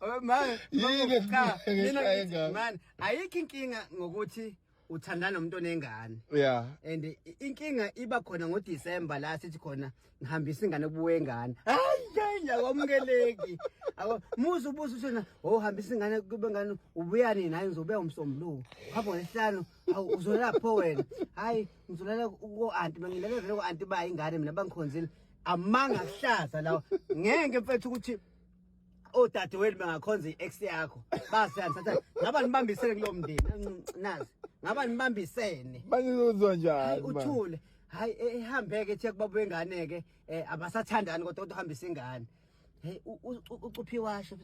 Oh, manje Yini cha ngeke mina ngithi, engane? manje ayikho inkinga ngokuthi uthandana nomuntu onengane yeah and i- inkinga iba khona ngoDecember la sithi khona ngihambisa ingane kubuye ingane hayi hayi akwamkeleki Ako- muzi ubuza ushona oh hambisa ingane kube ngane ubuya nini hayi ngizobuya umsombuluko hamba ngesihlanu awu uzolala pho wena hayi ngizolala ko anti mangilele vele ko anti ba ingane mina bangikhonzile amanga kuhlaza lawo ngeke mfethu ukuthi odadewenu bengakhonza i-ex yakho basiyandithatha ngaba nibambisene kulo mndeni nazi ngaba nibambisene banizozwa njani uthule hayi ehambeke eh, eh, thiya kubaba wengane-ke um eh, abasathandani kodwa kodwa uhambisa ingane Hey ucuphi washo.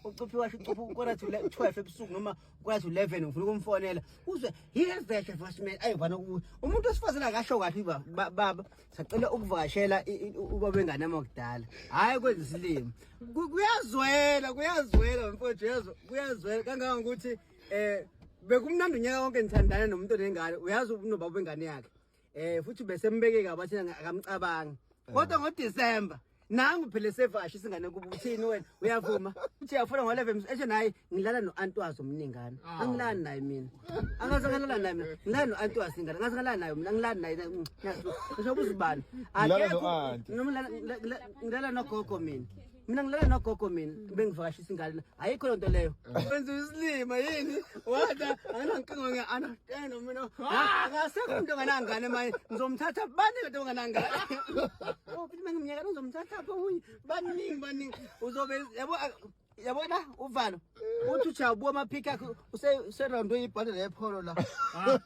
Ucuphi washo ucuphi ukora to 12 ebusuku noma ukora to 11 ngifuna ukumfonela. Uzwe here veke first man ayivana umuntu osifazana akasho kahle baba sacela ukuvakashela ubaba engane amakudala. Hayi kwenza isilimo. Kuyazwela kuyazwela mfowethu yezwa kuyazwela kangaka ukuthi eh bekumnandi unyaka wonke ngithandana nomuntu onengane uyazi unobaba wengane yakhe eh futhi besembekeka abathi akamcabangi kodwa ngo December nangu phela sevashi singane kuba uthini wena uyavuma uthi uyafuna ngo 11 eshe naye ngilala no antwazi omningana ah. angilani naye mina angaze ngalala naye mina ngilala no antwazi ingane angaze ngalala naye mina ngilani naye ngisho ubuzibani akekho nomlala ngilala no gogo mina mina ngilala nogogo mina mm. bengivakashisa ingane ayikho loo nto leyo mm. wenza isilima yini wada anginankinga nge-understand mina ah! akasekho umntu onganangane manje ngizomthatha bani lento onganangane oh, futhi uma ngimnyaka uzomthatha pho omunye baningi baningi uzobe yabo yabona uvalo uthi ujabuwa amaphikhi akhe userondo ibhande lepholo la ah.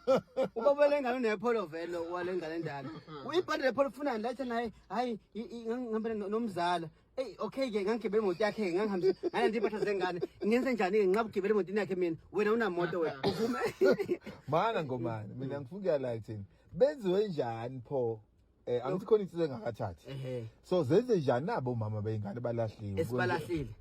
ubabele ngane nepholo vele wale ngane ndala ibhande lepholo ufunani lathi naye hayi ngihambele nomzala eyi okay ke ngangigibela imoto yakhe ngangihambisa ngalanda iy'mpahla zengane ngenze njani-ke nginqaba ukugibela emotini yakhe mina wena unamoto wena uvume mana ngomane mina ngifuna ukuyalayo kuthini benziwe njani pho Eh angithi khona insizwe engakathathi. So zenze njani nabo mama beyingane balahliwe. Esibalahlile.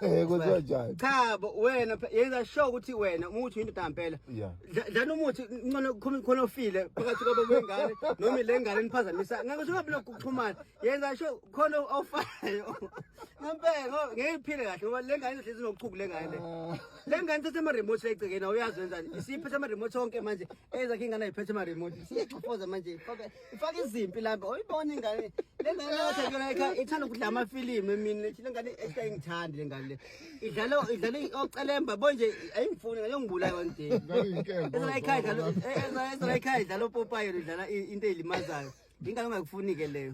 Eh kuthiwa njani? Cha bo wena phe- yenza sure ukuthi wena uma uthi indoda ngempela. Yeah. dla- Dlana umuthi ncono khona khona ofile phakathi kwabo kwengane noma ile ngane niphazamisa. Ngeke usungabe lokhu kuxhumana. Yenza sure khona ofayo. Ngempela ngo- ngeke iphile kahle ngoba le ngane ihlezi nochuku le ngane. le. Le ngane ithathe ama remote egcekeni awuyazi wenzani. Isiphethe ama remote onke manje. Ezakhe ingane ayiphethe ama remote. Siyachofoza manje. Fuck it. ifaka izimpi lapha uyibona ingane lengane yathi yona ekhaya ithanda ukudla amafilimu emini lethi lengane ehlaya ingithandi lengane le idlala idlala ocelemba bonje ayingifuni ngayongibulaya one day ezala ekhaya idlala ezala ekhaya idlala opopayo idlala into elimazayo ingane ongakufuni ke leyo